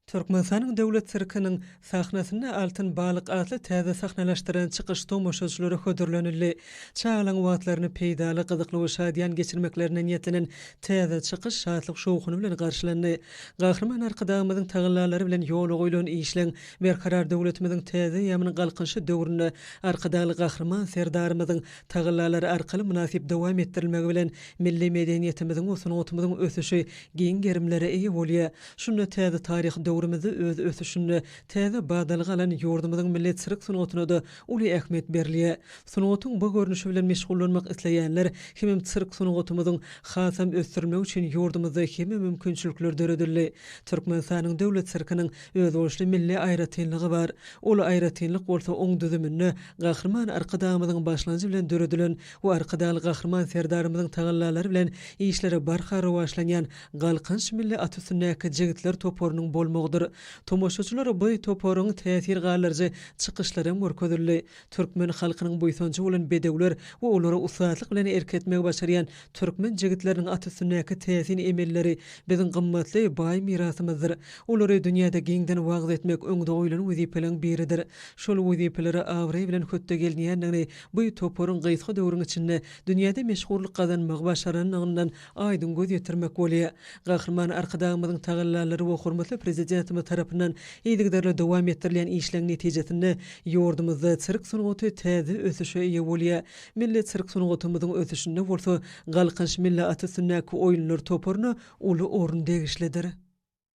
Türkmenistanyň Döwlet sirkiniň sahnasynda Altyn balyk atly täze sahnalaşdyran çykyş tomaşaçylara hödürlenildi. Çagalaryň wagtlaryny peýdaly, gyzykly we şadyýan geçirmeklerine niýetlenen täze çykyş şatlyk-şowhuny bilen garşylandy. Gahryman Arkadagymyzyň tagallalary bilen ýola goýlan işleň Berkarar döwletimiziň täze eýýamynyň Galkynyşy döwründe Arkadagly Gahryman Serdarymyzyň tagallalary arkaly mynasyp dowam etdirilmegi bilen milli medeniýetimiziň we sungatymyzyň ösüşi giň gerimlere eýe bolýar. Şunda täze taryhy döwrümizde öz ösüşinde täze badalga alan ýurdumyzyň milli sirk sungatyna-da uly ähmiýet berilýär. Sungatyň bu görnüşi bilen meşgullanmak isleýänler hemem sirk sungatymyzyň hasam ösdürilmegi üçin ýurdumyzda hemme mümkinçilikler döredildi. Türkmenistanyň Döwlet sirkiniň özboluşly milli aýratynlygy bar. Ol aýratynlyk bolsa oň düzüminde Gahryman Arkadagymyzyň başlanjy bilen döredilen we Arkadagly Gahryman Serdarymyzyň tagallalary bilen işleri barha rowaçlanýan Galkynyş milli at üstündäki jigitler toparynyň bolmagydyr. Tomaşaçylara bu toparyň täsir galdyryjy çykyşlary hem görkezildi. Türkmen halkynyň buýsanjy bolan bedewler we olara ussatlyk bilen erk etmegi başarýan türkmen jigitleriniň at üstündäki täsin emelleri biziň gymmatly, baý mirasymyzdyr. Olary dünýäde giňden wagyz etmek öňde goýlan wezipeleriň biridir. Şol wezipelere abraý bilen hötde gelinýändigini bu toparyň gysga döwrüň içinde dünýäde meşhurlyk gazanmagy başaranlygyndan aýdyň göz ýetirmek bolýar. Gahryman Arkadagymyzyň tagallalary we hormatly Prezidentimiz tarapyndan yzygiderli dowam etdirilýän işleň netijesinde ýurdumyzda sirk sungaty täze ösüşe eýe bolýar. Milli sirk sungatymyzyň ösüşinde bolsa Galkynyş milli at üstündäki oýunlar toparyna uly orun degişlidir.